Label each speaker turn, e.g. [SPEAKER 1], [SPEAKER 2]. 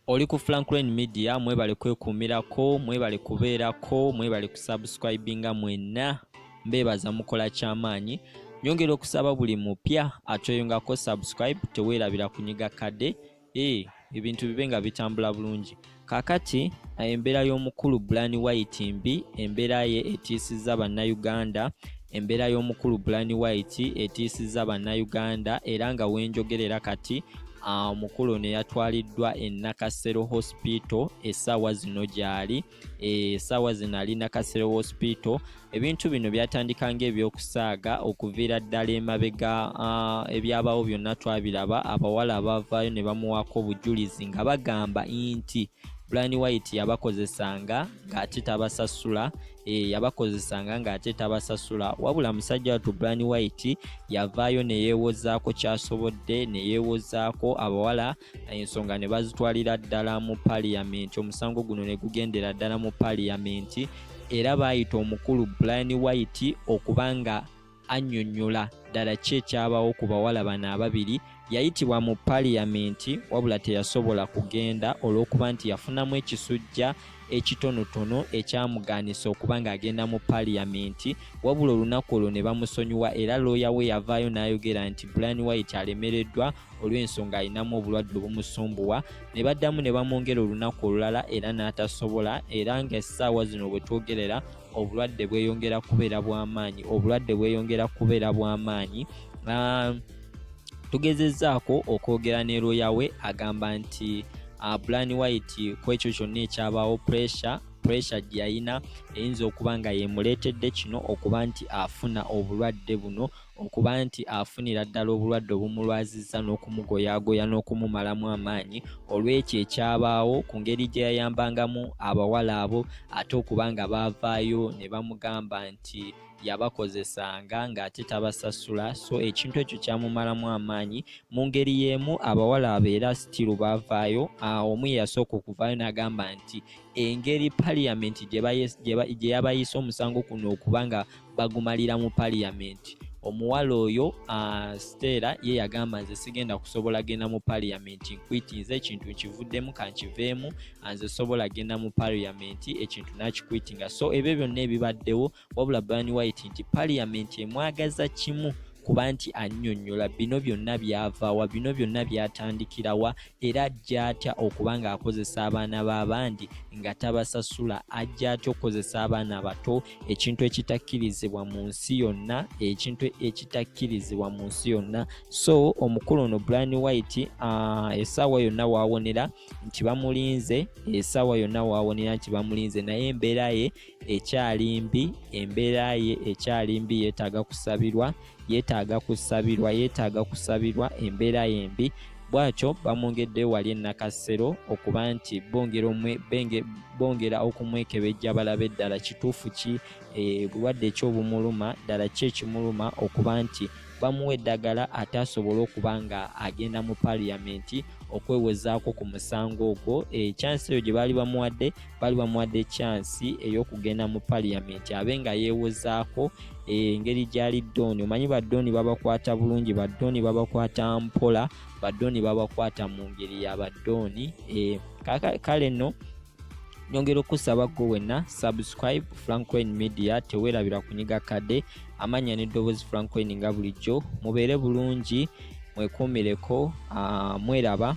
[SPEAKER 1] oli ku franklin media mwebale kwekuumirako mwebale kubeerako mwebale kusubscribinga mwenna mbeebaza mukola kyamaanyi nyongera okusaba buli mupya atweyongako subscribe teweerabira kunyiga kadde ee eh, ebintu bibe nga bitambula bulungi kakati embeera y'omukulu bulani white mbi embeera ye etiisizza bannayuganda embeera y'omukulu bulani white etiisizza bannayuganda era nga wenjogerera kati Ah, omukulu ono yatwaliddwa e nakasero hospital essaawa zino gyali eh, essaawa zino ali nakasero hospital ebintu bino byatandika ngaebyokusaaga okuviira ddala emabega ah, ebyabawo byonna twabiraba abawala abavaayo ne bamuwaako obujulizi nga bagamba nti brian white yabakozesanga ng'ate tabasasula Eh, yabakozesanga ng'ate tabasasula wabula musajja watu brani white yavaayo neyeewozaako kyasobodde neyeewozaako abawala ensonga ne bazitwalira ddala mu paliyamenti omusango guno ne gugendera ddala mu paliyamenti era baayita omukulu brani white okuba nga annyonnyola ddala ki ekyabawo ku bawala bano ababiri yayitibwa mu paliyamenti wabula teyasobola kugenda olw'okuba nti yafunamu ekisujja ekitonotono ekyamugaanisa okuba ng'agenda mu paliyamenti wabula olunaku olwo ne bamusonyiwa era looya we yavaayo n'ayogera nti brian white alemereddwa olw'ensonga alinamu obulwadde obumusumbuwa ne baddamu ne bamwongera olunaku olulala era n'atasobola era ng'essaawa zino bwe twogerera obulwadde bweyongera kubeera bwamaanyi obulwadde bweyongera kubeera bwamaanyi ah, tugezezaako okwogera ne looya we agamba nti ah, blan white ku ekyo kyonna ekyabaawo pressure pressure gye yalina eyinza okuba nga yemuleetedde kino okuba nti afuna obulwadde buno okuba nti afunira ddala obulwadde obumulwazizza n'okumugoyaagoya n'okumumalamu amaanyi olw'ekyo ekyabaawo ku ngeri gye yayambangamu abawala abo ate okuba nga baavaayo ne bamugamba nti yabakozesanga ng'ate tabasasula so ekintu ekyo kyamumalamu amaanyi mu ngeri y'emu abawala abo era sitiru baavaayo omu yeyasooka okuvaayo n'agamba nti engeri paliyamenti gye yabayisa omusango kuno okuba nga bagumalira mu parliament omuwala oyo uh, stela ye yagamba nze sigenda kusobola genda mu parliament nkwitinze ekintu nkivuddemu kankiveemu ah, nze sobola genda mu parliament ekintu nakikwitinga so ebyo byonna ebibaddewo wabula bani white nti parliament emwagaza kimu kuba nti annyonnyola bino byonna byavawa bino byonna byatandikirawa era ajja atya okuba ng'akozesa abaana b'abandi nga tabasasula ajja atya okukozesa abaana abato ekintu ekitakkirizibwa mu nsi yonna ekintu ekitakkirizibwa mu nsi yonna so omukulu ono brian white uh, esaawa yonna waawonera nti bamulinze esaawa yonna waawonera nti bamulinze naye embeera ye ekyali mbi embeera ye ekyali mbi yeetaaga kusabirwa yeetaaga kusabirwa yeetaaga kusabirwa embeera yembi bwatyo bamwongedde wali enakassero okuba nti bongera okumwekebejja balabe ddala kituufu ki eh, bulwadde ekyobumuluma ddala ki ekimuluma okuba nti bamuwa eddagala ate asobole okuba nga agenda mu paliyamenti okwewozaako ku musango ogwo ekyansi eh, eyo gye baali bamuwadde bali bamuwadde kyansi ey'okugenda mu paliyamenti abe nga yeewozaako eh, engeri gyali dooni omanyi badooni babakwata bulungi badooni babakwata mpola badooni babakwata mu ngeri ya badooni eh, kale no nyongera okusaba gwe wenna subscribe francoin media teweerabira kunyiga kade amannya n'eddoboozi francoin nga bulijjo mubeere bulungi mwekuumireko ah, mweraba